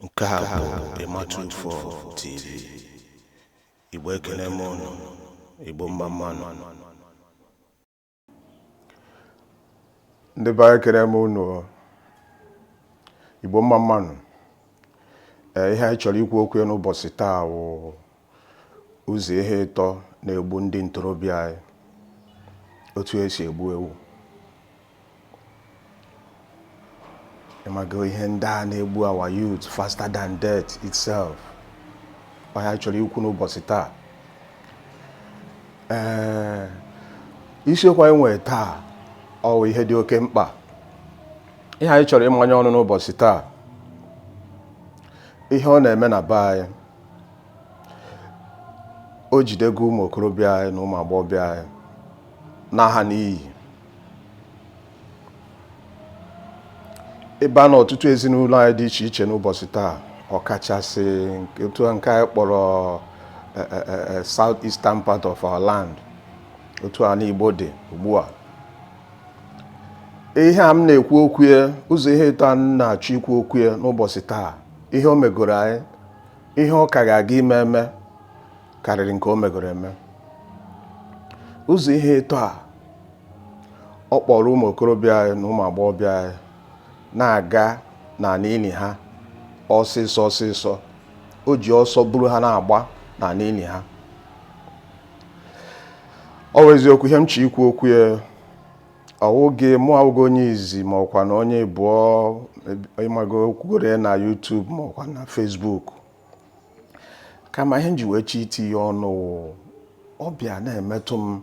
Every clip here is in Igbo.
nke a bụ ịmatụ ufọ tv igbo ekene m ụnụ igbo mma mmanụ ndị be anyị ekene m ụnụ igbo mma mmanụ ee ihe anyị chọrọ ikwu okwu ya n'ụbọchị taa wụ Ụzọ ihe ịtọ na-egbu ndị ntorobịa anyị otu esi egbu ewu ịmago ihe ndị a na-egbu our youth faster than death itself ọ ihe anyị chọrọ ikwu n'ụbọchị taa ee isiokwu anyị nwere taa ọ wụ ihe dị oke mkpa ihe anyị chọrọ ịmanye ọnụ n'ụbọchị taa ihe ọ na-eme na be anyị o jidego ụmụ okorobịa anyị na ụmụ agbọghọbịa anyị naa ha n'iyi ị baa n'ọtụtụ ezinụlọ anyị dị iche iche n'ụbọchị taa ọkachasị otu nke anyị kpọrọ e, e, e, south eastern part of our land otu anị Igbo dị ugbu a ihe a m na-ekwu okwu ya ụzọ ihe ịtọ a m na-achọ ikwu okwu ya n'ụbọchị taa ihe o megoro anyị ihe ọ ka ga-aga ime eme karịrị nke o megoro eme ụzọ ihe ịtọ a ọ kpọrọ ụmụ okorobịa anyị na ụmụ agbọghọbịa anyị na-aga n'ala ili ha ọsịsọ ọsịsọ o ji ọsọ buru ha na-agba n'ala ili ha ọ wụ eziokwu ihe m chọ ikwu okwu ya ọ wụghị mụ awụghị onye izi ma ọ kwanụ onye ịbụọ ịmago kwugoro na YouTube ma ọkwa na Facebook kama ihe m ji wee chọ iti ya ọnụ ọ bịa na-emetụ m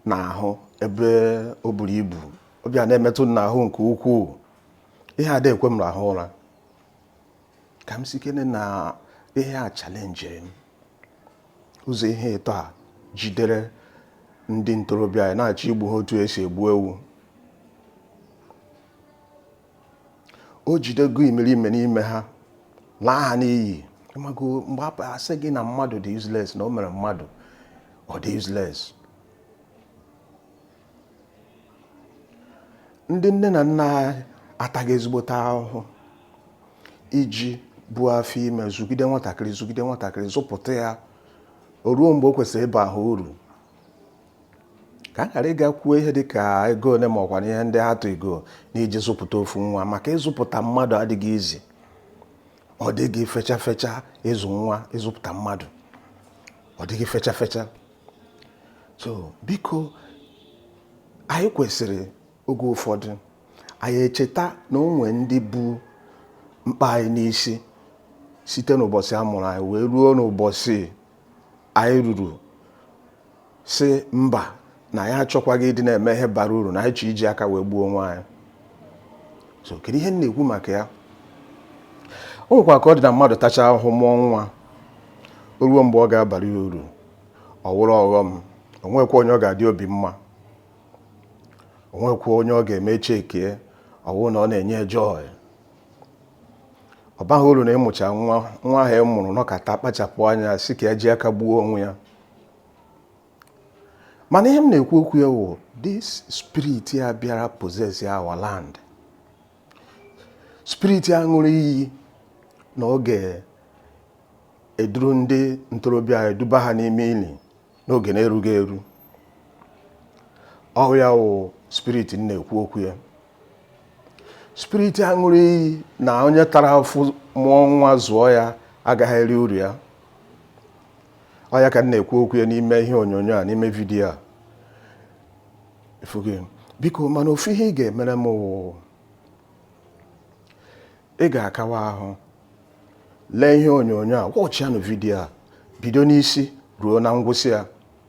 n'ahụ ebe o buru ibu ọ bịa na-emetụ m n'ahụ nke ukwuu ihe ada ekwe m rahụ ụra ka m sikene na ihe a chalenjiri m ụzọ ihe ịtọ a jidere ndị ntorobịa anyị na-achọ igbu ha otu esi egbu ewu o jidego imerime n'ime ha laa ha n'iyi ịmago mgbe a sị gị na mmadụ dị useless na o mere mmadụ ọ dị useless ndị nne na nna atago ezigbote ahụhụ iji buo afọ ime zụgide nwatakịrị zụgide nwatakịrị zụpụta ya o ruo mgbe o kwesịrị ịba ha uru ka a ghara ịga kwuo ihe dị ka ego ole ma ọ kwanụ ihe ndị ha tụ ego n'iji zụpụta ofu nwa maka ịzụpụta mmadụ adịghị easy ọ dịghị fecha fecha ịzụ nwa ịzụpụta mmadụ ọ dịghị fecha fecha so biko anyị kwesịrị oge ụfọdụ anyị echeta na o nwe ndị bu mkpa anyị n'isi site n'ụbọchị a mụrụ anyị wee ruo n'ụbọchị anyị ruru sị mba na anyị achọkwaghị ịdị na-eme ihe bara uru na anyị chọ iji aka wee gbuo onwe anyị so kedu ihe m na-ekwu maka ya o nwekwa ka ọ dị na mmadụ tacha ahụhụ mụọ nwa o ruo mgbe ọ ga-abara ya uru ọ wụrụ ọghọm o nwekwa onye ọ ga-adị obi mma o nwekwa onye ọ ga-eme chekie ọ wụrụ na ọ na-enye joy ọ baghị uru na ị mụcha nwa nwa ahụ ị mụrụ nọkata kpachapụ anya sị ka ya ji aka gbuo onwe ya mana ihe m na-ekwu okwu ya wụ this spirit a bịara possess our land spirit a ṅụrụ iyi na ọ ga eduru ndị ntorobịa anyị duba ha n'ime ili n'oge na-erughị eru ọ wụ ya wụ spirit m na-ekwu okwu ya spirit a ṅụrụ iyi na onye tara afụfụ mụọ nwa zụọ ya agaghị eri uru ya ọ ya ka m na-ekwu okwu ya n'ime ihe onyonyo a n'ime vidiyo a biko mana ofu ihe ị ga-emere m wụ ị ga-akawa ahụ lee ihe onyonyo a watchịanụ vidiyo a bido n'isi ruo na ngwụsị ya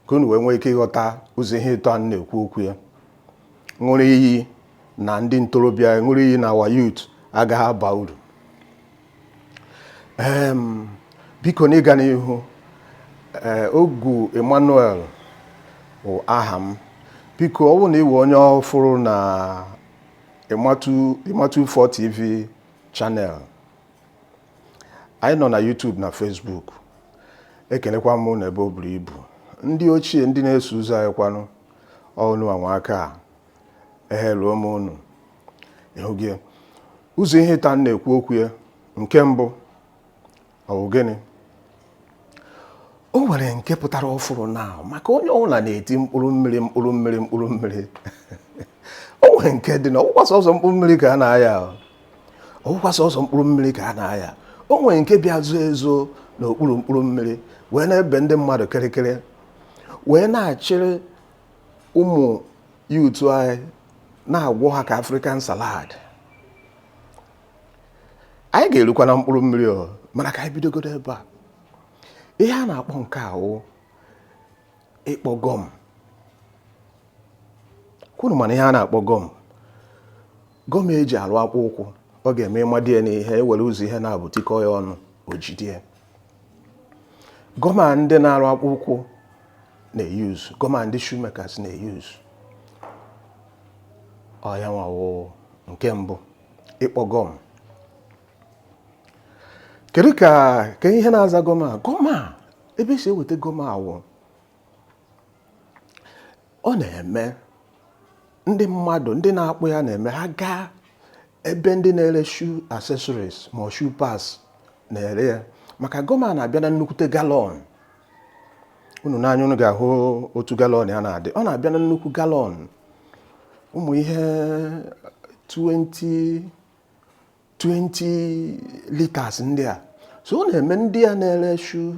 ka unu wee nwee ike ịghọta ụzọ ihe ịtọ a m na-ekwu okwu ya ṅụrụ iyi na ndị ntorobịa ṅụrụ iyi na our youth agaghị aba uru biko n'ịga n'ihu eh, Ogu Emmanuel bụ aha m biko ọ wụrụ na ị wụ onye ọfụrụ na Emma Two Four TV channel anyị nọ na YouTube na Facebook ekelekwa m unu ebe o buru ibu ndị ochie ndị na-eso ụzọ anyị kwanụ ọ unu nwa nwe aka a ehe ruo m unu ị hụgo ụzọ ihe ịtọ a m na-ekwu okwu ya nke mbụ Ọ wụ gịnị? O nwere nke pụtara ọfụrụ na maka onye ọbụla na-eti mkpụrụ mmiri mkpụrụ mmiri mkpụrụ mmiri o nwere nke dị na ọ wụkwa sọsọ mkpụrụ mmiri ka a na-aya ọ wụkwa sọsọ mkpụrụ mmiri ka a na-aya o nwere nke bịa zoo ezo n'okpuru mkpụrụ mmiri wee na-ebe ndị mmadụ kịrịkịrị wee na-achịrị ụmụ youth anyị na-agwọ ha ka African salad anyị ga-erukwa na mkpụrụ mmiri o mana ka anyị bidogodo ebe a ihe a na-akpọ nke a wụ ịkpọ gọm kwa unu manụ ihe a na-akpọ gọm gọm eji arụ akpụ ụkwụ ọ ga-eme ị madie na ihe i were ụzọ ihe naabọ tikọ ya ọnụ o jidie gọm a ndị na-arụ akpụ ụkwụ na-eyuz gọm a ndị shoemakers na-eyuz ọ yanwa wụ nke mbụ ịkpọ gọm kedu ka ihe na-aza gọm a gọm a ebe esi eweta gọm a wụ ọ na-eme ndị mmadụ ndị na-akpọ ya na-eme ha gaa ebe ndị na-ere shoe accessories ma shoe parts na-ere ya maka gọm a na-abịa na nnukwute galọn unu nee anya unu ga-ahụ otu galọn ya na-adị ọ na-abịa na nnukwu galọn ụmụ ihe 20 liters ndị a so ọ na-eme ndị a na-ere shoe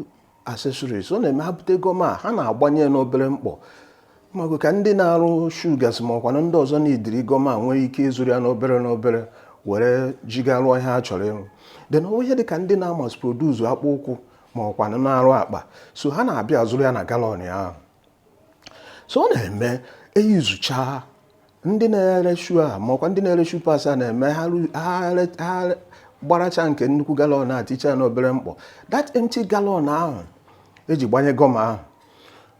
accessories ọ na-eme ha bute gọm a ha na-agbanye n'obere mkpọ mago ka ndị na-arụ shoe gasị ma ọkwanụ ndị ọzọ nidiri gọm a nwee ike ịzụrụ ya n'obere n'obere were jiga rụọ ihe ha chọrọ ịrụ then ihe dị ka ndị na-amass produce akpụ ụkwụ ma ọkwanụ na-arụ akpa so ha na-abịa azụrụ ya na galọn ahụ so ọ na-eme eyuzucha ndị na-ere shoe a ma ọkwa ndị na-ere shoe parts a na-eme ha gbaracha nke nnukwu galọn a ticha n'obere mkpọ that empty galọn ahụ eji gbanye gọm ahụ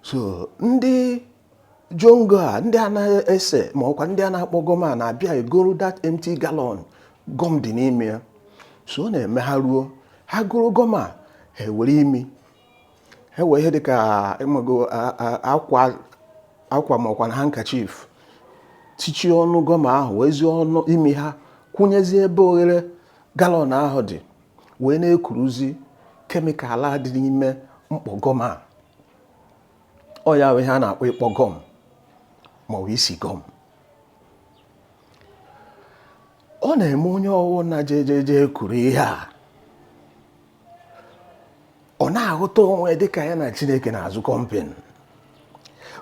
so ndị jongo a ndị a na-ese ma ọkwa ndị a na-akpọ gọm a na-abịa egoro that empty galọn gọm dị n'ime ya so ọ na-eme ha ruo ha goro gọm a ha ewere imi ha wee ihe dịka ịmago akwa akwa ma ọkwanụ handkerchief tichie ọnụ gọm ahụ wezie ọnụ imi ha kwụnyezie ebe oghere galọn ahụ dị wee na-ekuruzi kemikal a dị n'ime mkpọ gọm a ọ ya wụ ihe a na-akpọ ịkpọ gọm ma ọ bụ isi gọm ọ na-eme onye ọwụna jejeje kuru ihe a ọ na-ahụta onwe ya dịka ya na Chineke na-azụ combine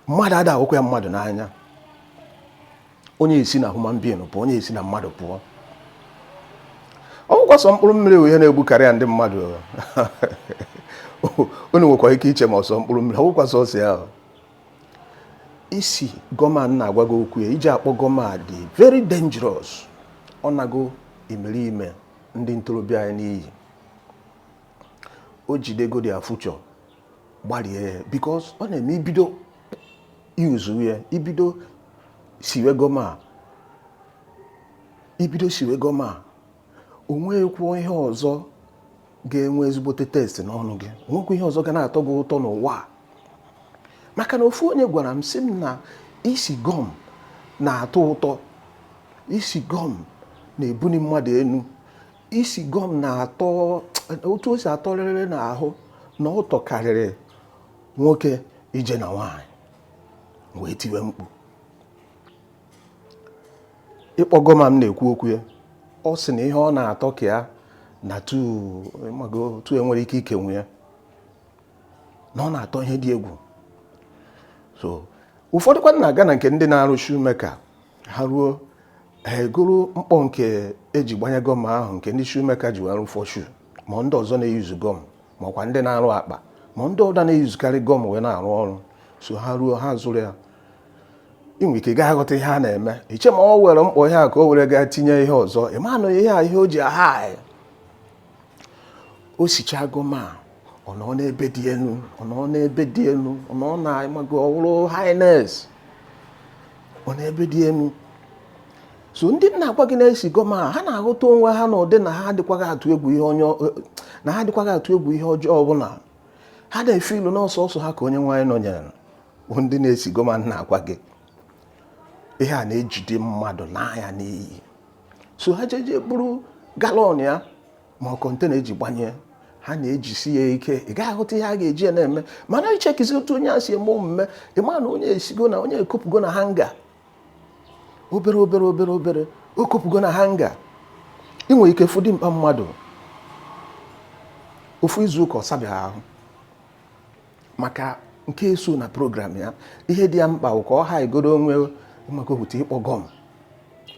mmadụ ada awụkwa ya mmadụ n'anya onye esi na human being pụọ onye esi na mmadụ pụọ ọ bụkwa sọ mkpụrụ mmiri wụ ihe na-egbukarịa ndị mmadụ unu nwekwa ike iche ma ọ sọ mkpụrụ mmiri ọ bụkwa sọsọ ya isi gọm a m na-agwa gị okwu ya iji akpọ gọm a dị very dangerous ọ nago imerime ndị ntorobịa anyị n'iyi o jidego their future gbalie ya because ọ na-eme ibido yuzu ya ibido siwe gọm a ibido siwe gọm a o nweghịkwu ihe ọzọ ga-enwe ezigbote taste n'ọnụ gị o nwekwa ihe ọzọ ga na-atọ gị ụtọ n'ụwa maka na ofu onye gwara m sị m na isi gọm na-atọ ụtọ isi gọm na-ebuni mmadụ enu isi gọm na-atọ otu o si atọrịrị n'ahụ na ọ tọkarịrị nwoke ije na nwaanyị m wee tiwe mkpu ịkpọ gọm a m na-ekwu okwu ya ọ sị na ihe ọ na-atọ karịa na etu enwere ike ịkọwa ya na ọ na-atọ ihe dị egwu so ụfọdụkwanụ na-aga na nke ndị na-arụ shoemaker ha ruo ha egoro mkpọ nke eji gbanye gọm ahụ nke ndị shoemaker ji wee rụfọ shoe ma ndị ọzọ na-eyuzu gọm ma ọkwa ndị na-arụ akpa ma ndị ọda na-eyuzukarị gọm wee na-arụ ọrụ so ha ruo ha zụrụ ya inwe ike gaa ghọta ihe a na-eme iche ma ọ were mkpọ ihe a ka o were gaa tinye ihe ọzọ ịma na ihe a ihe o ji a-high o sicha gọm a ọ nọ n'ebe dị enu ọ nọ n'ebe dị enu ọ nọ na ịmago ọwụrụ highness ọ n'ebe dị enu so ndị m na-agwa gị na-esi gọm a ha na-aghọta onwe ha na ụdị na ha adịkwaghị atụ egwu ihe ọjọọ ọbụla ha na-efeel na ọ sọọsọ ha ka Onyenweanyị nọnyere bụ ndị na-esi gọm a m na-agwa gị ihe a na-ejide mmadụ n'anya n'iyi so ha jeje buru galọn ya ma ọ kọntena eji gbanye ha na-ejisi ya ike ị gaghị aghọta ihe a ga-eji ya na-eme mana ichekizi otu onye a si eme omume ịma na onye esigo na onye ekopụgo na hanga obere obere obere obere o kopụgo na hanga ị nwere ike fụ dimkpa mmadụ ofu izu ụka ọ sabeghị ahụ maka nke eso na program ya ihe dị ya mkpa bụ ka ọ highgodu onwe maka okwute ịkpọ gọm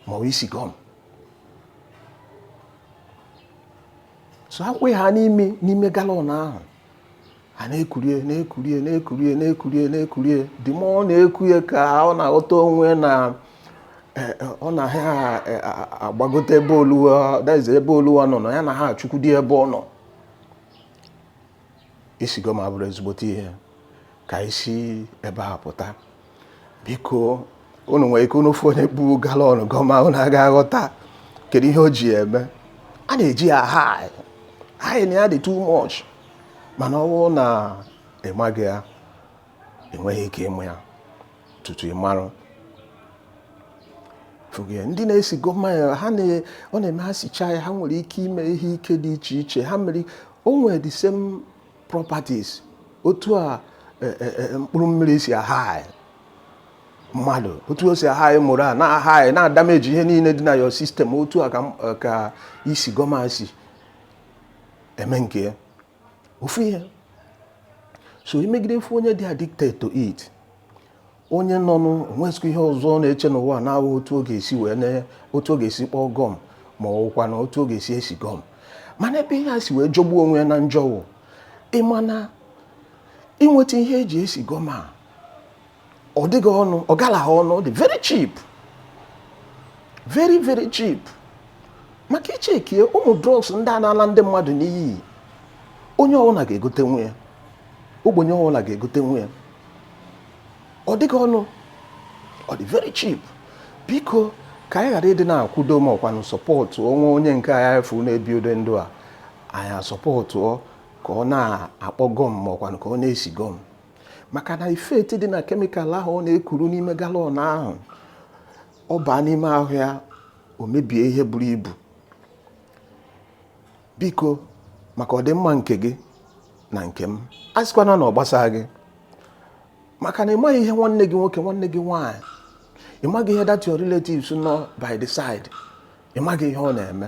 ma ọ isi gọm so akwụ ha n'imi n'ime galọn ahụ a na-ekurie na-ekurie na-ekurie na-ekurie na-ekurie the more ọ na-eku ya ka ọ na-aghọta onwe na Eh, eh, ọ na ha eh, agbagote ebe oluwa daize ebe oluwa nọ na ya na ha achụkwudi ebe ọ nọ isi gọm abụrọ ezigbote ihe ka anyị si ebe a pụta biko unu nwere ike unu fụ onye bu galọn gọm a unu aga aghọta kedu ihe o ji ya eme a na-eji ya a-high high na ya dị too much mana ọwụ na ịmaghị ya i nweghị ike ịma ya tutu ị marụ ndị na-esi gọm a ọ na-eme ha sicha ya ha nwere ike ime ihe ike dị iche iche ha mere o nwere the same properties otu a e, e, e, mkpụrụ mmiri si ahaị mmadụ otu o si ahaị mụrụ a na-ahaị na-adamage ihe niile dị na your system otu a ka isi gọm a si eme nke ya ofu ihe so imegide fụ onye dị addicted to it onye nọnụ o nwezikwa ihe ọzọ ọ na-eche n'ụwa na-awụ otu ọ ga-esi wee na otu ọ ga-esi kpọọ gọm ma ọ wụkwa na otu ọ ga-esi esi gọm mana ebe ihe a si wee jọgbuo onwe ya na njọ wụ ịma na inweta ihe eji esi gọm a ọ dịghị ọnụ ọ galaha ọnụ ọ dị very cheap very very cheap maka i checkie ụmụ drugs ndị a na-ala ndị mmadụ n'iyi onye ọbụla ga-egotenwu ya ogbenye ọbụla ga-egotenwu ya ọ dịghị ọnụ ọ dị very cheap biko ka anyị ghara ịdị na-akwudo ma ọkwanụ sọpọtụwe onye nke anyị afụ na-ebi ụdị ndụ a anyị asọpọtụ ka ọ na-akpọ gọm ma ọkwanụ ka ọ na-esi gọm maka na effect dị na kemikal ahụ ọ na-ekuru n'ime galọn ahụ ọ baa n'ime ahụ ya o mebie ihe buru ibu biko maka ọdịmma nke gị na nke m asịkwana na ọ gbasaa gị maka na ịmaghị ihe nwanne gị nwoke nwanne gị nwaanyị ịmaghị ihe that your relatives nọ by the side ịmaghị ihe ọ na-eme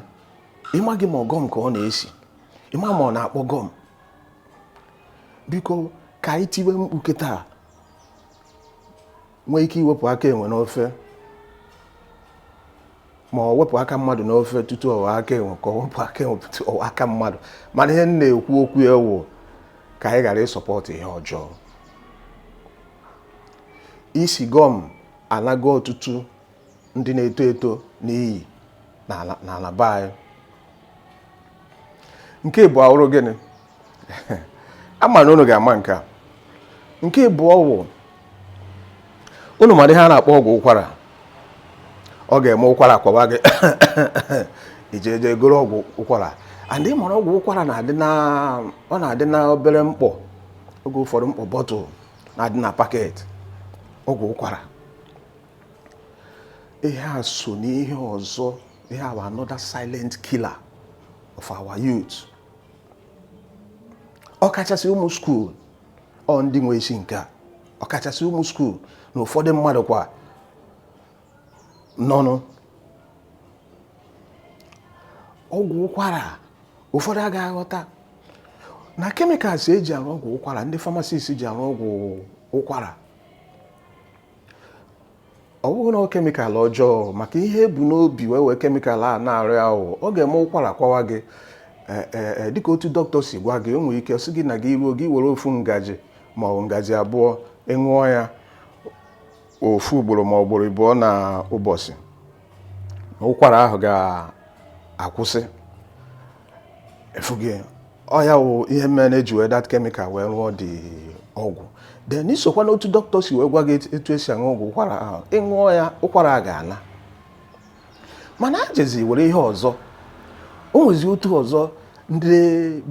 ịmaghị ma ọ gọm ka ọ na-esi ịma ma ọ na-akpọ gọm biko ka anyị tiwe mkpu kịta nwee ike iwepụ aka enwe n'ofe ma ọ wepụ aka mmadụ n'ofe tutu ọwa aka enwe ka e wepụ aka enwe tutu ọwa aka mmadụ mana ihe m na-ekwu okwu ya wụ ka anyị ghara ịsọpọtụ ihe ọjọọ isi gọm anago ọtụtụ ndị na-eto eto n'iyi n'ala be anyị nke abụọ wụrụ gịnị ama m na unu ga-ama nke a nke abụọ wụ unu mara ihe a na-akpọ ọgwụ ụkwara ọ ga-eme ụkwara kwawa gị ije eje goro ọgwụ ụkwara and ị mara ọgwụ ụkwara na-adị na ọ na-adị na obere mkpọ oge ụfọdụ mkpọ bọtụl na-adị na paketị ọgwụ ụkwara ihe a so n'ihe ọzọ ihe a bụ another silent killer of our youth ọkachasị ụmụ skuul ọ ndị nwe isi nke a ọkachasị ụmụ skuul na ụfọdụ mmadụ kwa nọnụ ọgwụ ụkwara ụfọdụ agaghị aghọta na chemicals eji arụ ọgwụ ụkwara ndị pharmacists ji arụ ọgwụ ụkwara ọ bụghị na chemical ọjọọ maka ihe e bu n'obi wee wee chemical a na-arụ ya wụ ọ ga-eme ụkwara kwawa gị dịka otu dọkịta si gwa gị o nwere ike sị gị na gị ruo gị were ofu ngaji ma ọ ngaji abụọ ị ṅụọ ya ofu ugboro ma ọ ugboro ịbụọ na ụbọchị ụkwara ahụ ga-akwụsị ị fụgo ọ ya wụ ihe mere na eji wee that chemical wee rụọ the ọgwụ then i sokwa n'otu dọkịta si wee gwa gị etu esi aṅụ ọgwụ ụkwara ahụ ị ṅụọ ya ụkwara a ga-ala mana a jezi were ihe ọzọ o nwezi otu ọzọ ndị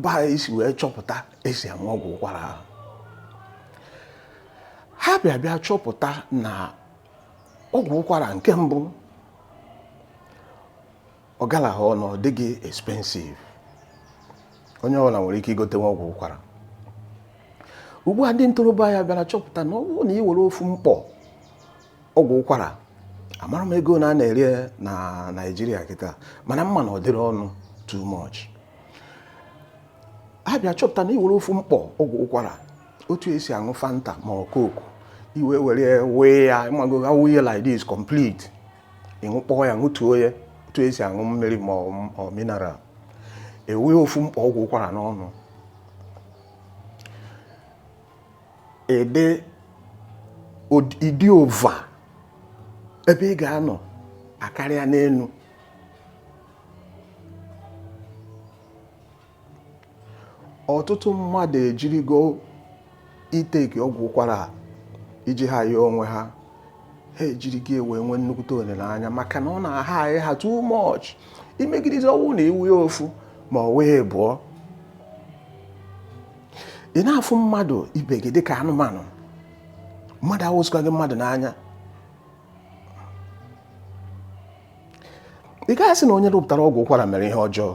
be anyị si wee chọpụta esi aṅụ ọgwụ ụkwara ahụ ha bịa bịa chọpụta na ọgwụ ụkwara nke mbụ ọ galaghị ọnụ ọ dịghị expensive onye ọbụla nwere ike igotenwu ọgwụ ụkwara ugbu a ndị ntorobịa ya bịara chọpụta na ọ bụrụ na ị were ofu mkpọ ọgwụ ụkwara amaghị m ego one a na-ere na naijiria kịta mana m ma na ọ dịghị ọnụ too much ha bịa chọpụta na ị were ofu mkpọ ọgwụ ụkwara otu esi aṅụ fanta ma ọ coke i wee were wee ya ịmago ha wuye like this complete ị ṅụkpọọ ya ṅụtuo ya otu esi aṅụ mmiri ma ọ mineral i wee ofu mkpọ ọgwụ ụkwara n'ọnụ ede ị dị over ebe ị ga-anọ akarịa n'elu ọtụtụ mmadụ ejirigo ịtake ọgwụ ụkwara iji haya onwe ha ha ejirigo ya wee nwee nnukwute olileanya maka na ọ na-ahaị ha too much imegidizi ọ wụ na ị ṅụọ ya ofu ma ọ wụ abụọ ị na-afụ mmadụ ibe gị dịka anụmanụ mmadụ awụzikwa gị mmadụ n'anya ị gaghị asị na onye rụpụtara ọgwụ ụkwara mere ihe ọjọọ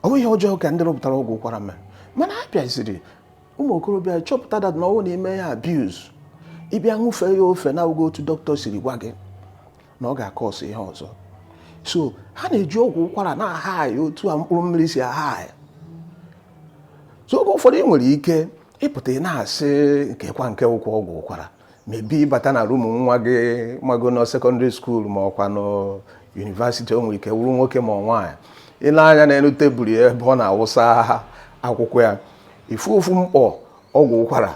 ọ bụ ihe ọjọọ ka ndị rụpụtara ọgwụ ụkwara mere mana a bịaziri ụmụ okorobịa chọpụta that na ọ wụ na i mee ya abuse ị bịa ṅụfee ya ofe na-awụghị otu dọkịta siri gwa gị na ọ ga-akọsụ ihe ọzọ so ha na-eji ọgwụ ụkwara na-ahaya otu a mkpụrụ mmiri si ahaya so oge ụfọdụ ị nwere ike ịpụta ị na-asị kekwa nke wụkwa ọgwụ ụkwara maybe ị bata na rumu nwa gị mago na secondary school ma ọkwa na university o nwere ike wụrụ nwoke ma nwaanyị i lee anya n'elu tebụl ya ebe ọ na-awụsa akwụkwọ ya ị fụ ofu mkpọ ọgwụ ụkwara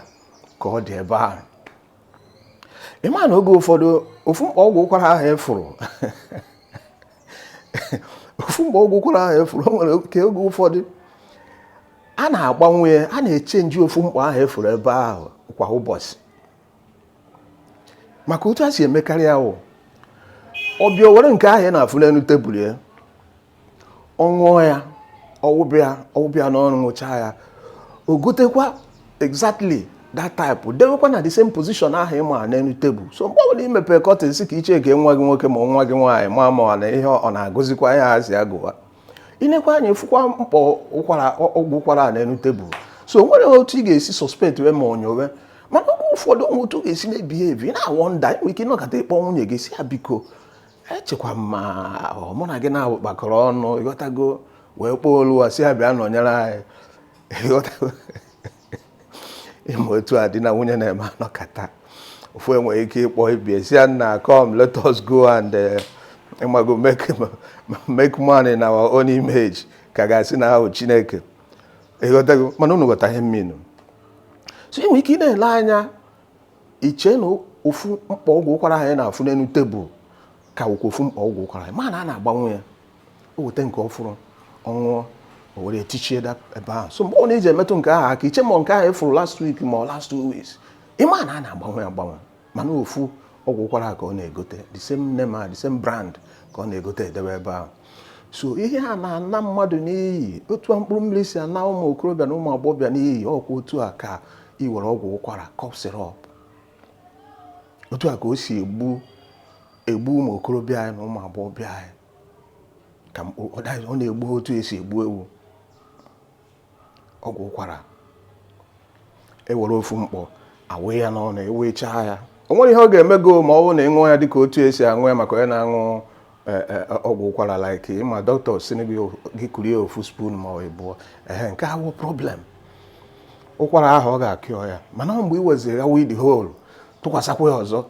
ka ọ dị ebe ahụ ị ma na oge ụfọdụ ofu mkpọ ọgwụ ụkwara ahụ ị fụrụ ofu mkpọ ọgwụ ụkwara ahụ ị fụrụ o nwere ike oge ụfọdụ a na-agbanwe ya a na-echenji ofu mkpọ ahụ ị fụrụ ebe ahụ kwa ụbọchị maka otu a si emekarị ahụ ọ bịa o were nke ahụ ị na-afụ n'elu tebụl ya ọ ṅụọ ya ọwụbịa ọwụbịa n'ọrụ ṅụcha ya o gotekwa exactly that type dewekwa na the same position ahụ ị ma n'elu tebụl so mgbe ọbụla i mepe kọtịn si ka ị chekie nwa gị nwoke ma nwa gị nwaanyị ma ma na ihe ọ na-agụzikwa ihe a sị ya gụwa i nekwa anya fụkwa mkpọ ụkwara ọgwụ ụkwara a n'elu tebụl so o nwere otu ị ga-esi sọspektwe ma ọ nyowe mana oge ụfọdụ o nwee otu ọ ga-esi na-ebihevi ị na-awọnda i nwere ike ịnọkata ịkpọ nwunye gị si ya biko echekwa m ma mụ na gị naabọ kpakọrọ ọnụ ịghọtago wee kpọọ Oluwa si ya bịa nọnyere anyị ịghọtago ị ma otu a di na nwunye na-eme a nọkata ofu enwere ike ịkpọ ibie si ya nna come let us go and eh, ịmago make make man in our own image ka a ga-asị na a wụ chineke ịghọtago mana unu ghọta ihe m minu so ị nwere ike ị na-ele anya i chee na ofu mkpọ ọgwụ ụkwara ahụ ị na-afụ n'elu tebụl ka wụkwa ofu mkpọ ọgwụ ụkwara ahụ ị ma na a na-agbanwe ya o weta nke ọfụrụ ọ ṅụọ o were tichie ya ebe ahụ so mgbe ọ na-eji emetụ nke ahụ aka i chee ma nke ahụ ị fụrụ last week ma ọ last two weeks ị ma na a na-agbanwe agbanwe mana ofu ọgwụ ụkwara ka ọ na-egote the same name a the same brand ka ọ na-egote edebe ebe ahụ so ihe a na-ana mmadụ n'iyi otu a mkpụrụ mmiri si ana ụmụ okorobịa na ụmụ agbọghọbịa n'iyi ọkwa otu a ka i were ọgwụ ụkwara cough syrup otu a ka o si egbu egbu ụmụ okorobịa anyị na ụmụ agbọghọbịa anyị ka ọ na-egbu otu esi egbu ewu ọgwụ ụkwara e were ofu mkpọ awụ ya n'ọnụ ewechaa ya o nwere ihe ọ ga-eme gị ma ọ bụrụ na ị ṅụọ ya dịka otu esi aṅụ ya maka onye na-aṅụ e, e, e, ọgwụ ụkwara like ị ma dọkịta si gị kurie ofu spoon ma ọ ịbụọ ee nke a awọ problem ụkwara ahụ ọ ga-akịọ ya mana mgbe ị weziri ya wụọ the whole tụkwasakwa ya ọzọ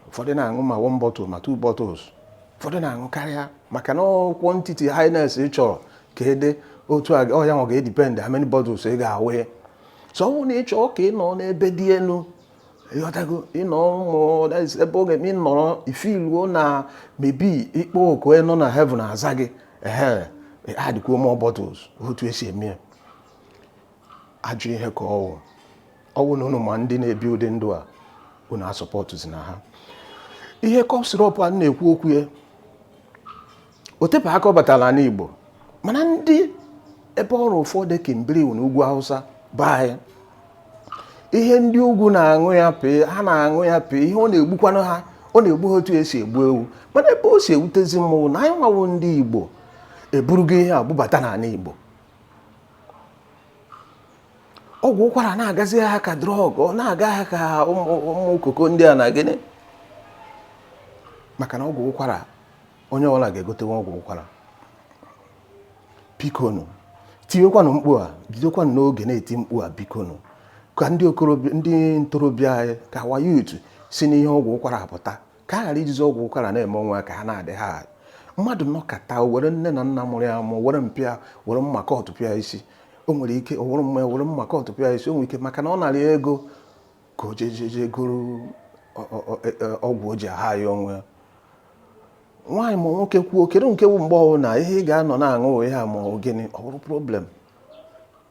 ụfọdụ na-aṅụ ma one bottle ma two bottles ụfọdụ na-aṅụ karịa maka na ọ quantity highness ị chọrọ ka ede otu a ọ ya nwa ga-edipend how many bottles ị ga-awụnye so ọ bụrụ na ị chọọ ka ị nọ n'ebe dị elu ịghọtago ị nọ ụmụ ebe oge ị nọrọ i filuo na maybe ị kpọọ oku onye nọ na heaven aza gị ehe adịkwuo more bottles otu esi eme ya ajọ ihe ka ọ wụ ọ wụ na ụnụ ma ndị na-ebi ụdị ndụ a ụnụ asọpọtụzina ha ihe cough syrup a na-ekwu okwu ya o tebe aka ọ batara n'ala Igbo mana ndị ebe ọrụ ụfọdụ kimbiri na ugwu Hausa baa ya ihe ndị ugwu na-aṅụ ya pee ha na-aṅụ ya pee ihe ọ na-egbukwanụ ha ọ na-egbu ha otu esi egbu ewu mana ebe o si ewutezi m wụ na anyị nwa wụ ndị Igbo eburugo ihe a bubata n'ala Igbo ọgwụ ụkwara na-agazi ha ka drug ọ na-aga ha ka ụmụ koko ndị a na gịnị maka na ọgwụ ụkwara onye ọbụla ga-egotewa ọgwụ ụkwara bikonu tiwekwanụ mkpu a bidokwanụ n'oge na-eti mkpu a bikonu ka ndị okorobịa ndị ntorobịa anyị ka our youth si n'ihe ọgwụ ụkwara a pụta ka a ghara ijizi ọgwụ ụkwara na-eme onwe ya ka ha na-adị high. mmadụ nọkata o were nne na nna mụrụ ya mụ were mpịa were mma kọtụ pịa isi o nwere ike ọ wụrụ mma ya were mma kọtụ pịa isi o nwere ike maka na ọ nara ya ego ka o jejeje goro ọ- ọ- ọ- e- e- ọgwụ o ji a-high onwe ya nwaanyị ma nwoke kwuo kedu nke bụ mgbe ọwụna ihe ị ga-anọ na-aṅụ ihe a ma ọ bụ gịnị ọ bụrụ problem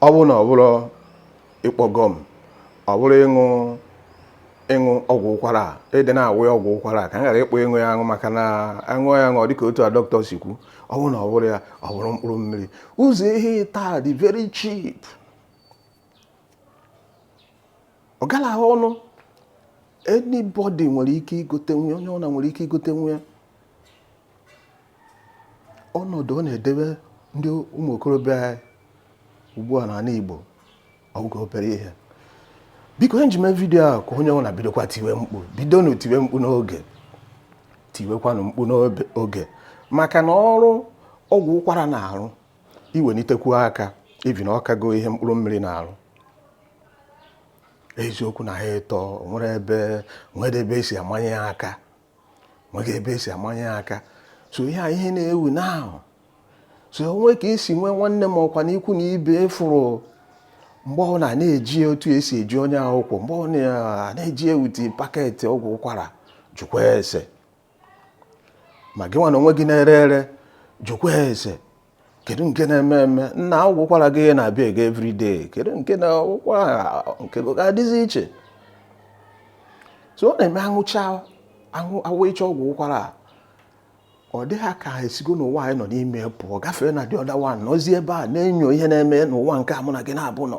ọ bụrụ na ọ bụrụ ịkpọ gum ọ bụrụ ịṅụ ịṅụ ọgwụ ụkwara a ịdị na-awụ ya ọgwụ ụkwara a ka m ghara ịkpọ ịṅụ ya aṅụ maka na aṅụ ya aṅụ dịka otu a dọkịta si kwu ọ bụrụ na ọ bụrụ ya ọ bụrụ mkpụrụ mmiri ụzọ ihe ịtọ a dị very cheap ọ galahụ ọnụ anybody nwere ike igotenwu ya onye ọbụla nwere ike igotenwu ya ọnọdụ ọ na-edebe ndị ụmụ okorobịa anyị ugbu a n'ala Igbo ọ wụghị obere ihe biko ihe m ji eme video a ka onye ọbụla bidokwa tiwe mkpu bidonụ tiwe mkpu n'oge tiwekwanụ mkpu n'oge maka na ọrụ ọgwụ ụkwara na-arụ iwelitekwu aka ibi na ọ kago ihe mkpụrụ mmiri na-arụ eziokwu na ha ịtọ nwere ebe nwere ebe e si amanye ya aka nweghị ebe e si amanye ya aka so ihe a ihe na-ewu na so o nwee ka e si nwee nwanne m ọkwanụ ikwu na ibe fụrụ mgbe ọwụna ọ na-eji otu e si eji onye akwụkwọ mgbe ọ na-eji ewute packet ọgwụ ụkwara jụkwa ese ma gị nwa n'onwe gị na-ere ere jụkwa ese kedu nke na-eme eme nna ọgwụ ụkwara gị na-abịa ego everyday kedu nke na ụkwara nke gị ga-adịzi iche so ọ na-eme aṅụcha aṅụ aṅụcha ọgwụ ụkwara a ọ dị ha ka ha esigo n'ụwa anyị nọ n'ime pụọ gafee na the other world nọzie ebe a na-enyo ihe na-eme n'ụwa nke a mụ na gị naabọ nọ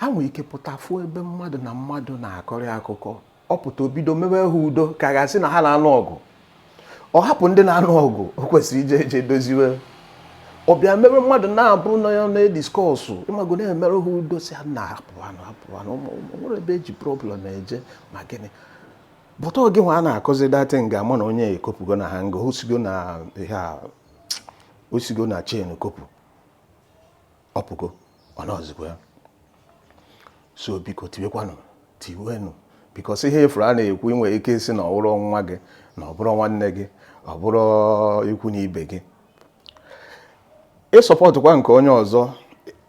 ha nwere ike pụta fụ ebe mmadụ na mmadụ na-akọrị akụkọ ọ pụta o bido mewe ha udo ka a ga-asị na ha na-anụ ọgụ ọ hapụ ndị na-anụ ọgụ o kwesịrị ije eje doziwe ọ bịa mewe mmadụ naabọ na ya na-ediscuss ị mago na-emere ha udo sị ha na hapụwanụ hapụwanụ nwere ebe e ji problem eje ma gịnị but oge nwa a na-akọzi that thing ga-ama na onye ekopụgo na hanger o sigo na ihe a o sigo na chain kopụ ọ pụgo ọ nọzikwa ya so biko tiwekwanụ tiwenụ bikos ihe efuru a na-ekwu i nwe ike ịsị na ọ bụrụ nwa gị na ọ bụrụ nwanne gị ọ bụrụ ikwu na ibe gị ị sọpọtụkwa nke onye ọzọ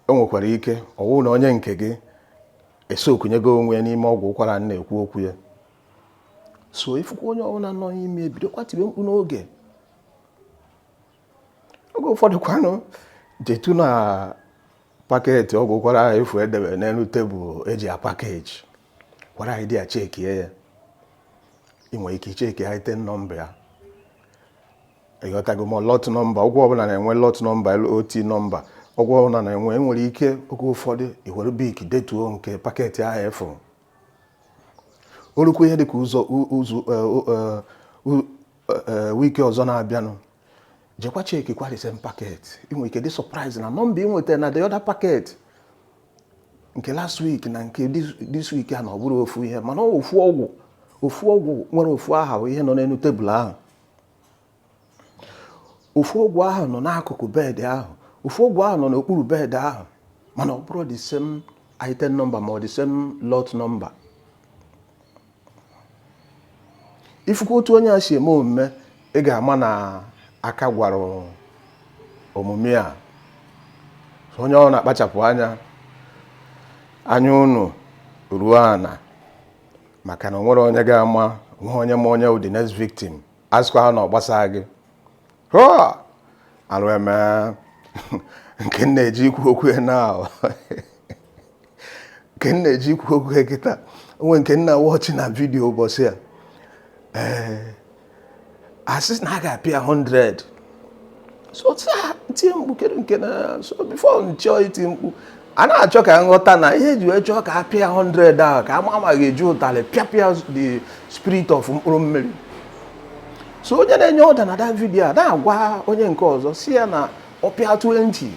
o nwekwara ike ọ wụ na onye nke gị esokunyego onwe ya n'ime ọgwụ ụkwara na-ekwu okwu ya so ifukwa onye ọbụla nọ n'ime ebidokwa tiwe mkpu n'oge oge ụfọdụ kwanụ jetu na paketi ọgwụ ụkwara afụ e debe n'elu tebụl eji apakeji kwara anyị dị ya chekie ya ị nwere ike icheki ya item nọmba ya ịghọtago ma lọt nọmba ọgwụ ọbụla na-enwe lọt nọmba LOT nọmba ọgwụ ọbụla na-enwe enwere ike oge ụfọdụ iwere bik detuo nke paketi afụ o rukwu ihe dịka izu ọzọ e, e, ee wiki ọzọ na-abịanụ jekwa chekikwa the same packet ị nwere ike dị surprise na nọmba ị nwetara na the other packet nke last week na nke this- this week a na ọ bụrụ ofu ihe mana ọ ofu ọgwụ ofu ọgwụ nwere ofu aha bụ ihe nọ n'elu tebụl ahụ ofu ọgwụ ahụ nọ n'akụkụ bedị ahụ ofu ọgwụ ahụ nọ n'okpuru bedị ahụ mana ọ bụrụ the same item number ma ọ the same lot number ifukwa otu onye a si eme omume ị ga-ama na aka gwara omume a onye ọbụla akpachapụ anya anya unu ruo ana maka na o nwere onye ga-ama o nwe onye ma onye wụ the next victim asịkwa ha na ọ gbasaa gị alụ eme nke m na-eje ikwu okwu ya na nke m na-eje ikwu okwu ya kịta o nwe nke m na-awọchị na vidiyo ụbọchị a ee asị na a ga-apịa 100 so tie mkpu kedu nke na so before m chọọ iti mkpu a na-achọ ka m ghọta na ihe eji wee chọọ ka a pịa 100 ahụ ka a ma ma a ga-eji ụtalị pịapụ ya the spirit of mkpụrụ mmiri so onye na-enye ọda na that video a na-agwa onye nke ọzọ sị ya na ọ pịa 20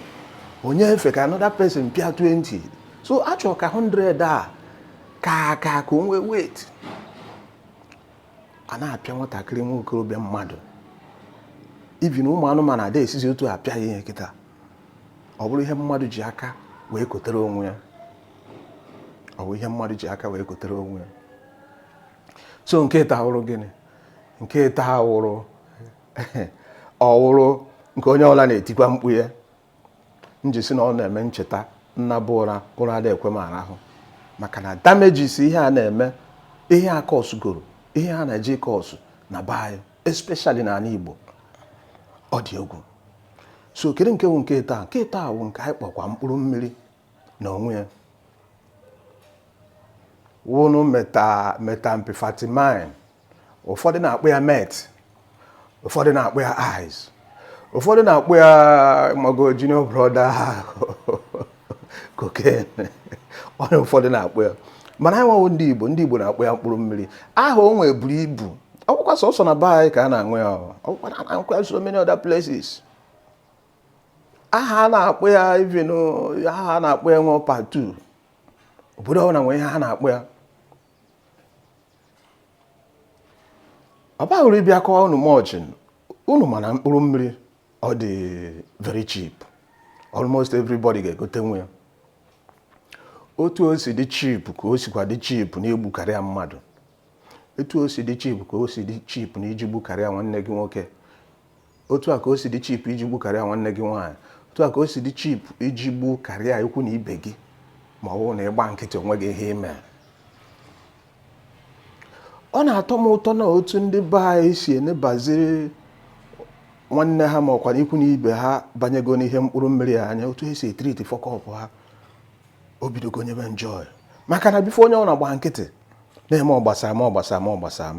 o nyefe ka another person pịa 20 so a chọrọ ka 100 a ka aka ka o nwee weight a na-apịa nwatakịrị nwa okorobịa mmadụ even ụmụ anụmanụ ada esizi otu a pịa ihe kịta ọ bụrụ ihe mmadụ ji aka wee kotere onwe ya ọ bụ ihe mmadụ ji aka wee kotere onwe ya so nke taa wụrụ gịnị nke taa wụrụ ọ wụrụ nke onye ọbụla na-etikwa mkpu ya m ji sị na ọ na-eme m cheta m naba ụra ụra ada ekwe m arahụ maka na damejis ihe a na-eme ihe a kọsụgoro ihe a na-eje ịkọsụ na be anyị especially n'ala Igbo ọ dị egwu so kedu nke wụ nke taa nke taa wụ nke anyị kpọkwa mkpụrụ mmiri na onwe ya wụnụ meta methamphetamine ụfọdụ na-akpọ ya meth ụfọdụ na-akpọ ya ice ụfọdụ na-akpọ ya mago junior brother cocaine onye ụfọdụ na-akpọ ya mana anyị nwa wụ ndị Igbo ndị Igbo na-akpọ ya mkpụrụ mmiri aha o nwee buru ibu ọ wụkwa sọsọ na be anyị ka a na-aṅụ ya ọ wụkwa na-aṅụkwa ya so many other places aha a na-akpọ ya even aha a na-akpọ ya nwe part two obodo ọbụla nwere ihe ha na-akpọ ya ọ baghị uru ịbịa kọọ unu much unu mana mkpụrụ mmiri ọ dị very cheap almost everybody ga-egotenwu ya otu o si dị cheap ka o sikwa dị cheap n'igbukarịa mmadụ otu o si dị cheap ka o si dị cheap na iji gbukarịa nwanne gị nwoke otu a ka o si dị cheap iji gbukarịa nwanne gị nwaanyị otu a ka o si dị cheap iji gbukarịa ikwu na ibe gị ma ọ bụrụ na ị gba nkịtị o nweghị ihe i me ọ na-atọ m ụtọ na otu ndị be anyị si enebaziri nwanne ha ma ọ kwanụ ikwu na ibe ha banyego n'ihe mkpụrụ mmiri anya otu e si e-treat fuck up ha o bidogo nyebe m joy maka na before onye ọ na-agba nkịtị na-eme ọ gbasa m ọ gbasa m ọ gbasa m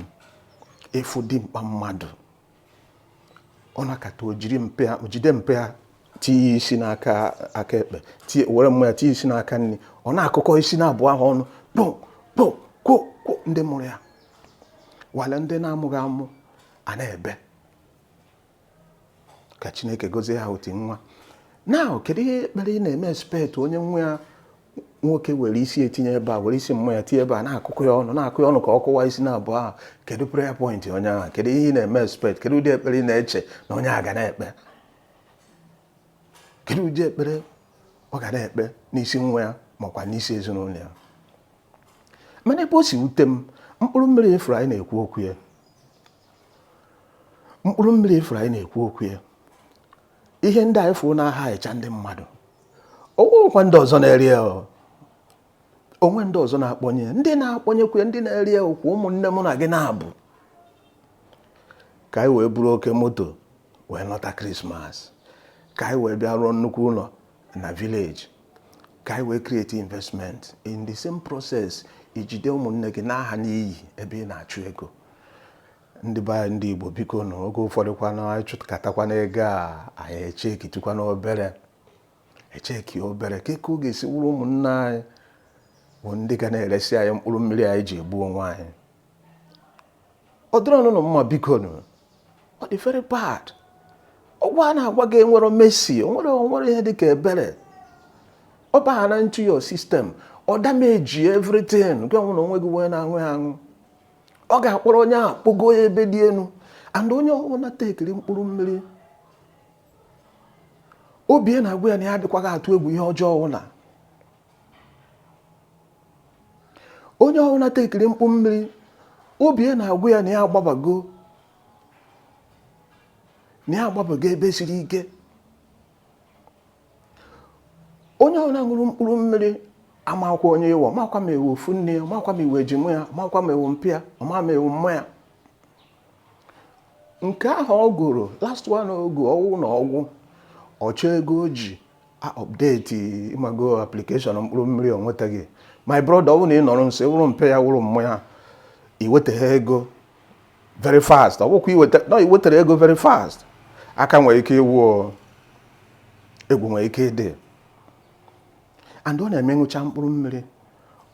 ị fụ dimkpa mmadụ ọ nakata o jide mpa ya tinye isi n'aka ekpe were mma ya tinye isi n'aka nri ọ na-akụkọ isi naabụ ahụ ọnụ kpo kpo kwo kwo ndị mụrụ ya while ndị na-amụghị amụ a na-ebe ka chineke gozie ha otu nwa na kedu ihe ekpere ị na-eme expect onye nwa ya nwoke were isi ya tinye ebe a were isi mma ya tinye ebe a na-akụkọ ya ọnụ na-akụ ya ọnụ ka ọ kụwa isi na abụọ ahụ kedu prayer point onye ahụ kedu ihe ị na-eme expect kedu ụdị ekpere ị na-eche na onye a ga na-ekpe kedu ụdị ekpere ọ ga na-ekpe n'isi nwa ya makwa n'isi ezinụlọ ya mana ebe o si wute m mkpụrụ mmiri ị fụrụ anyị na-ekwu okwu ya mkpụrụ mmiri ị fụrụ anyị na-ekwu okwu ya ihe ndị anyị fụrụ na-aha echa ndị mmadụ o nwekwa ndị ọzọ na-ere ya o nwe ndị ọzọ na-akpọnye ndị na-akpọnyekwa ndị na-ere ya ọkwa ụmụnne mụ na gị naabụ ka anyị wee buru oke moto wee nọta krismas ka anyị wee bịa rụọ nnukwu ụlọ na village ka anyị wee create investment in the same process i jide ụmụnne gị na-aha n'iyi ebe ị na-achụ ego ndị be anyị ndị Igbo biko nụ oge ụfọdụ kwanụ anyị chụkatakwana ego a anyị echekitukwana obere echeki obere ka eke ọ ga-esi wụrụ ụmụnna anyị bụ ndị ga na-eresi anyị mkpụrụ mmiri anyị ji egbu onwe anyị ọ dịrọ ọnụnụ mma biko nụ ọ dị very bad ọgwụ a na-agwa gị enwerọ mercy o nwerọ ihe dịka ebere ọ bahana into your system ọ damage everything gị ọnwụ na onwe gị wee na-aṅụ ya aṅụ ọ ga-akpọrọ onye ahụ kpogo ya ebe dị elu and onye ọbụla tekiri mkpụrụ mmiri obi na-agwa ya na ya adịkwaghị atụ egwu ihe ọjọọ ọbụla onye ọbụla tekiri mkpụrụ mmiri obi na-agwa ya na ya agbabago na ya agbabago ebe siri ike onye ọbụla ṅụrụ mkpụrụ mmiri amakwa onye ị wụ ọ makwa ma ị wụ ofu nne ya ọ makwa ma ị wụ ejima ya ọ makwa ma ị wụ mpa ya ọ ma ma ị wụ mma ya nke ahụ o goro last one ọ gwụ ọ wụ na ọ gwụ ọ chọọ ego o ji update ị mago application mkpụrụ mmiri o nwetaghị my brother ọ bụrụ na ị nọrọ nso ị wụrụ mpa ya wụrụ mma ya i weta ha ego very fast ọ bụkwa na i wetarọ ego very fast aka nwere ike ịwụ egwu nwere ike ịdị and ọ na-eme ṅụcha mkpụrụ mmiri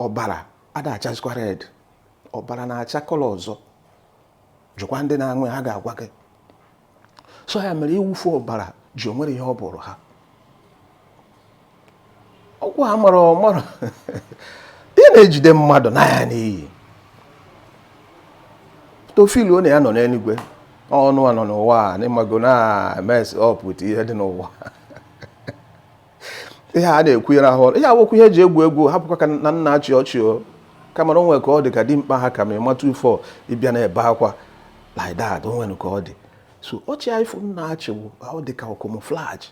ọbara ada achazikwa red ọbara na-acha color ọzọ jụkwa ndị na-aṅụ ya ha ga-agwa gị so ya mere ịwụfu ọbara ji enwerọ ihe ọ bụụrụ ha ọgwụ a mara ọ mara ị na-ejide mmadụ n'anya n'iyi to feel ọ na ya nọ n'eluigwe ọnụ a nọ n'ụwa a na ị mago na mess up with ihe dị n'ụwa ihe a na-ekwu ire ahụ ihe a awụkwa ihe e ji egwu egwu hapụkwa ka na m na-achị ọchị o kama na o nwere ka ọ dị ka dimkpa ha ka m ha ịmata ufọ ịbịa na-ebe akwa like that o nwere ka ọ dị so ọchị a ị fụ m na-achị wụ ọ dị ka camouflage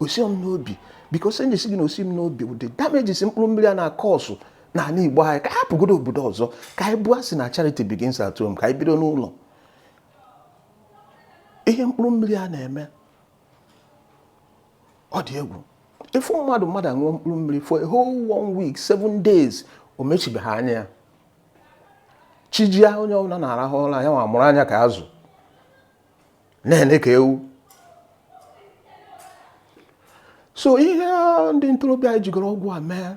o si m n'obi because enyi si gị na o si m n'obi wụ the damages mkpụrụ mmiri a na-acause n'ala igbo anyị ka hapụgodo obodo ọzọ ka anyị bụọ a sị na charity begins at home ka anyị bido n'ụlọ ihe mkpụrụ mmiri a na-eme ọ dị egwu ị fụ mmadụ mmadụ aṅụọ mkpụrụ mmiri for a whole one week seven days o mechibeghị anya ya chijia onye ọbụla na-arahụ ụra ya nwa mụrụ anya ka azụ na-ene ka ewu so ihe ndị ntorobịa anyị jigoro ọgwụ a mee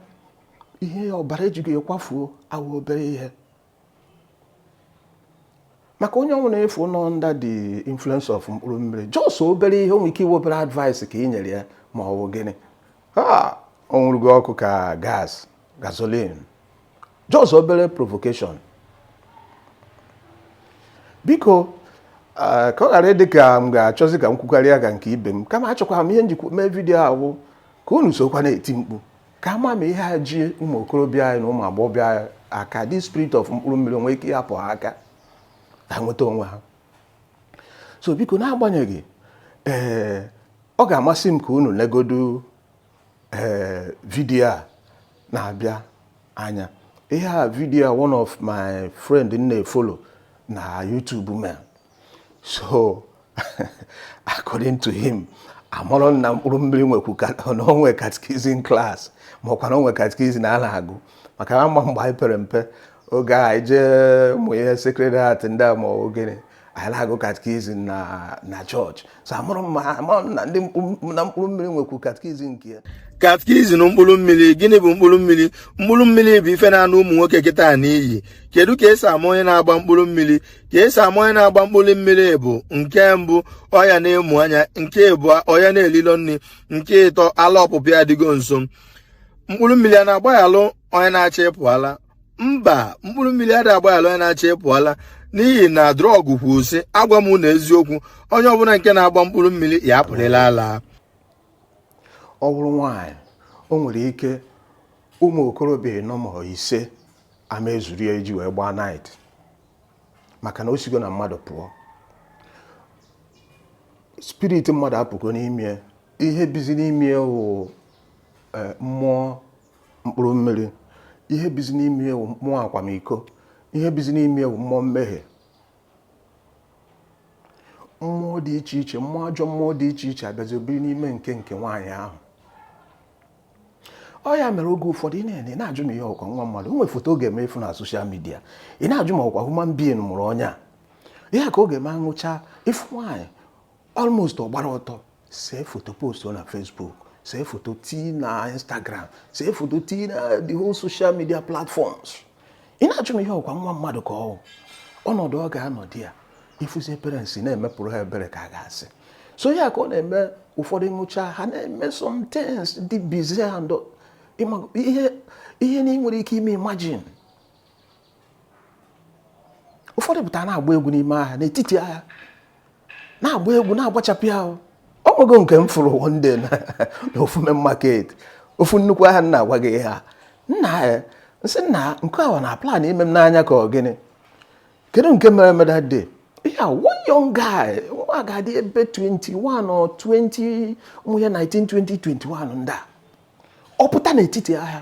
ihe ọbara e jigo ya kwafuo awụ obere ihe maka onye ọwụna ị fụ nọ under the influence of mkpụrụ mmiri just obere ihe o nwee ike ịwụ obere advice ka ị nyere ya ma ọ bụ gịnị o nwuru gị ọkụ ka gas gasoline just obere provocation biko ka ọ ghara ịdị ka m ga-achọzi ka m kwukarịa ka nke ibe m kama achọkwara m ihe m jikwa mee vidiyo a wụ ka unu sokwa na-eti mkpu ka a ma ma ihe a ji ụmụ okorobịa anyị na ụmụ agbọghọbịa anyị aka the spirit of mkpụrụ mmiri o nwee ike ịhapụ ha aka ka ha nweta onwe ha so biko n'agbanyeghị ee ọ ga-amasị m ka unu legodu ee vidiyo a na-abịa anya ihe a vidiyo one of my friend m na-efollow na YouTube mere so according to him amarọ m na mkpụrụ mmiri nwekwu na o nwe catechism class makwa na o nwe catechism a na-agụ maka na a ma mgbe anyị pere mpe oge a anyị jee ụmụ ihe Sacred Heart ndị a ma ogene anyị na-agụ catechism na chọọchị so amarọ m ma ha ma na ndị mkpụrụ na mkpụrụ mmiri nwekwu catechism nke ya catechism mkpụrụ mmiri gịnị bụ mkpụrụ mmiri mkpụrụ mmiri bụ ife na-ana ụmụ nwoke kịta n'iyi kedu ka esi ama onye na-agba mkpụrụ mmiri ka esi ama onye na-agba mkpụrụ mmiri bụ nke mbụ ọ ya na-emu anya nke abụọ ọ ya na-elilo nri nke ịtọ ala ọpụpụ ya adịgo nso mkpụrụ mmiri a na-agbaghalụ onye na-achọ ịpụ ala mba mkpụrụ mmiri ada agbaghara onye na-achọ ịpụ ala n'ihi na drug kwuru sị agwa m unu eziokwu onye ọbụla nke na-agba mkpụrụ mmiri ya-apụrịrị ala ọ bụrụ nwaanyị o nwere ike ụmụ okorobịa ịnọ ma ise ama ezuru ya iji wee gbaa night maka na o sigo na mmadụ pụọ spirit mmadụ apụgo n'ime ye ihe bizi n'ime ye wụ mmụọ mkpụrụ mmiri ihe bizi n'ime ye wụ mmụọ akwamiko ihe bizi n'ime ye wụ mmụọ mmehie mmụọ dị iche iche mmụọ ajọ mmụọ dị iche iche abịazi biri n'ime nke nke nwaanyị ahụ ọ ya mere oge ụfọdụ i nene ị na-ajụ ma ihe wụkwa nwa mmadụ o nwere foto ọ ga-eme ị fụ na social media ị na-ajụ ma ọ wụkwa human being mụrụ onye a ihe ka ọ ga-eme aṅụcha ị fụ nwaanyị almost ọ gbara ọtọ see foto post na Facebook see foto tii na Instagram see foto tii na the whole social media platforms ị na-ajụ ma ihe ọkwa nwa mmadụ ka ọ ọnọdụ ọ ga-anọdụ ya ị fụzi parents na-emepụrụ ha ebere ka a ga-asị so ya ka ọ na-eme ụfọdụ ṅụcha ha na-eme some things dị bizarre and ihe ihe na ị nwere ike ime imagine ụfọdụ pụtara na-agba egwu n'ime ahịa n'etiti ahịa na-agba egwu na-agbachapụ ya ahụ o nwego nke m fụrụ one day na ofu main market ofu nnukwu ahịa m na-agwa gị ha nna ya eh, nsị nna nke ahụ na plan ime m n'anya ka ọ gịnị kedu nke mere mere that day ya one young guy nwa ga-adị ebe 21 or 20 ụmụ ya 19 20 21 ndị a ọ pụta n'etiti ahịa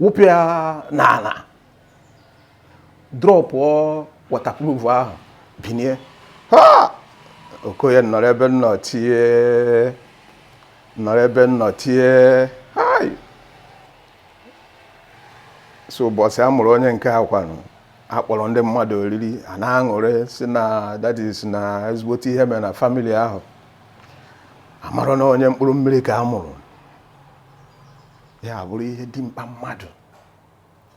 wụpụ ya n'ala drọpụọ waterproof ahụ binie ha okoye nọrọ ebe m nọ tie nọrọ ebe m nọ tie hai so ụbọchị a mụrụ onye nke a kwanụ akpọrọ ndị mmadụ oriri a na-aṅụrị sị na that is na ezigbote ihe mere na family ahụ amarọ na onye mkpụrụ mmiri ka a mụrụ ya bụrụ ihe dimkpa mmadụ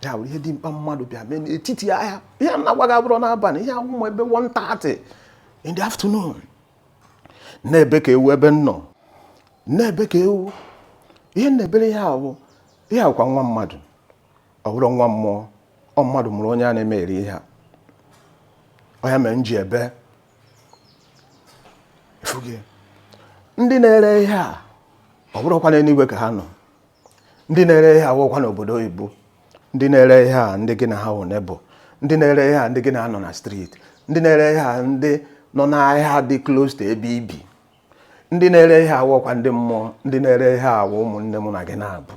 ya bụrụ ihe dimkpa mmadụ bịa mee n'etiti ahịa ihe m na-agwa gị abụrọ n'abalị ihe a wụ ma ebe 1:30 in the afternoon m na-ebe ka ewu ebe m nọ m na-ebe ka ewu ihe m na-ebere ya wụ ihe a wụkwa nwa mmadụ ọ bụrọ nwa mmụọ ọ mmadụ mụrụ onye a na-eme eri ihe a ọ ya mere m ji ebe ndị na-ere ihe a ọ bụrọkwa n'eluigwe ka ha nọ ndị na-ere ihe a wụkwa n'obodo oyibo ndị na-ere ihe a ndị gị na ha wụ neighbour ndị na-ere ihe a ndị gị na ha nọ na street ndị na-ere ihe a ndị nọ n'ahịa dị close to ebe i bi ndị na-ere ihe a wụkwa ndị mmụọ ndị na-ere ihe a wụ ụmụnne m na gị naabọ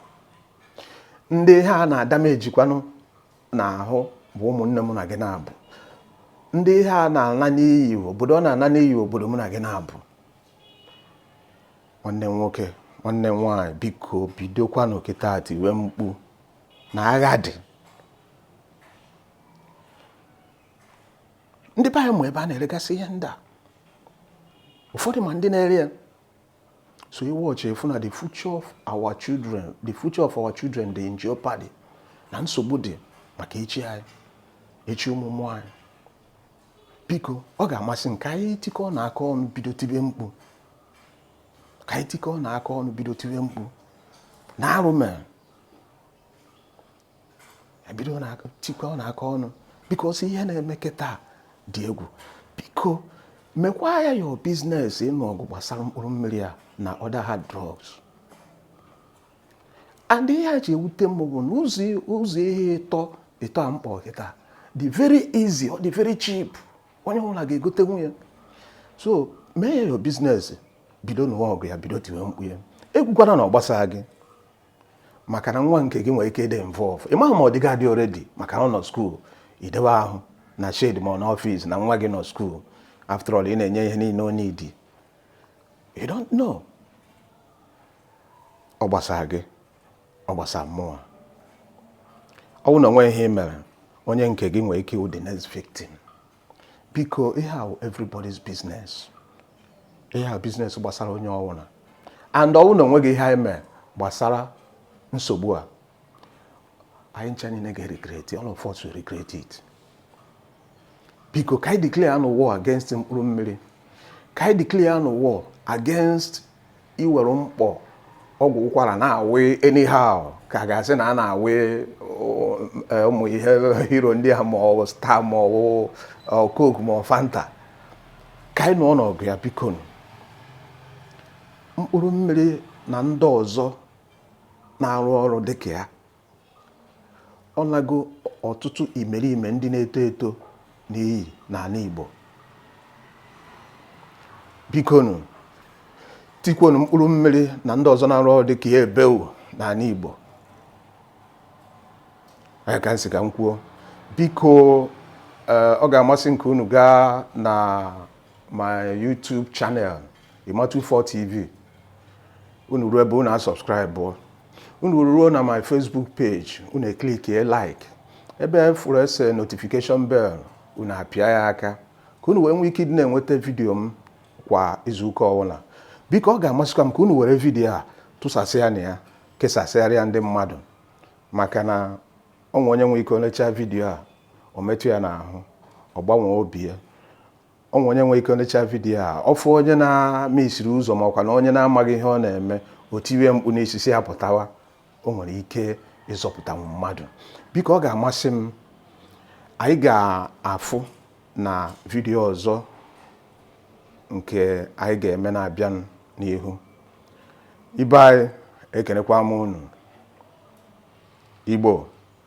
ndị ihe a na-adamejikwanụ n'ahụ bụ ụmụnne mụ na gị naabọ ndị ihe a na-ala n'iyi obodo ọ na-ala n'iyi obodo mụ na gị naabọ nwanne m nwoke nwanne m nwaanyị biko bidokwanụ kịta tiwe mkpu na agha dị ndị be anyị ma ebe a na-eregasị ihe ndị a ụfọdụ ma ndị na-ere ya so you watch ị fụ na the future of our children the future of our children dị in jeopardy na nsogbu dị maka echi anyị echi ụmụ ụmụ anyị biko ọ ga-amasị m ka anyị tikọ na aka ọnụ bido tibe mkpu ka anyị tikọ na aka ọnụ bido tibe mkpu na arụ mere ebido tikọ na aka ọnụ because ihe na-eme kịta dị egwu biko mekwa ya your business ịnụ ọgụ gbasara mkpụrụ mmiri a na other hard drugs and ihe a ji ewute m bụ na ụzọ ihe ịtọ ịtọ a m kpọ kịta dị very easy ọ dị very cheap onye ọbụla ga-egotenwu ya so mee ya your business bido nụwa ọgụ ya bido tiwe mkpu ya ekwukwana na ọ gbasaa gị maka na nwa nke gị nwere ike ịdị involve ị maghị ma ọ dịgo adị already maka na ọ nọ school i dewe ahụ na shed ma ọ na office na nwa gị nọ school after all ị na-enye ihe niile ọ need you don't know ọ gbasara gị ọ gbasara mụwa ọ bụ na o nwe ihe ị mere onye nke gị nwere ike ịwụ the next victim biko ihe a everybody's business ihe a business gbasara onye ọwụna and ọ wụ na o nweghị ihe anyị mee gbasara nsogbu a anyị ncha niile ga-regret all of us will regret it biko ka anyị declare nụ war against mkpụrụ mmiri ka anyị declare nụ war against iwere mkpọ ọgwụ ụkwara na-awị anyhow ka a ga-asị na a na-awị eh, ụmụ ihe hero ndị a ma ọ star ma ọ eh, coke ma ọ fanta ka anyị nụọnụ ọgụ ya biko mkpụrụ mmiri na ndị ọzọ na-arụ ọrụ dịka ya Ọ nago ọtụtụ imerime ndị na-eto eto n'iyi n'ana Igbo. Bikonu, tikwonu mkpụrụ mmiri na ndị ọzọ na-arụ ọrụ dịka ya ebeu n'ana Igbo. Ọ ya ka m sị ka m kwuo. Biko, eh, ọ ga-amasị m ka unu gaa na my YouTube channel Ima24 TV unu ruo ebe unu a-subscribe unu ruo na my Facebook page unu e-clickie like ebe ị fụrụ e se notification bell unu apịa ya aka ka unu wee nwee ike ịdị na-enweta vidiyo m kwa izuụka ọbụla biko ọ ga-amasịkwa m ka unu were vidiyo a tụsasịanụ ya kesasịara ya ndị mmadụ maka na o nwe onye nwe ike o lechaa vidiyo a o metụ ya n'ahụ ọ gbanwee obi ya o nwe onye nwere ike nechaa vidiyo a ọ fụ onye na-mesiri ụzọ ma ọ kwanụ onye na-amaghị ihe ọ na-eme o tiwe mkpu n'isi sị ya pụtawa o nwere ike ịzọpụtanwu mmadụ biko ọ ga-amasị m anyị ga-afụ na vidiyo ọzọ nke anyị ga-eme na-abịa n'ihu ibe anyị ekenekwa m unu igbo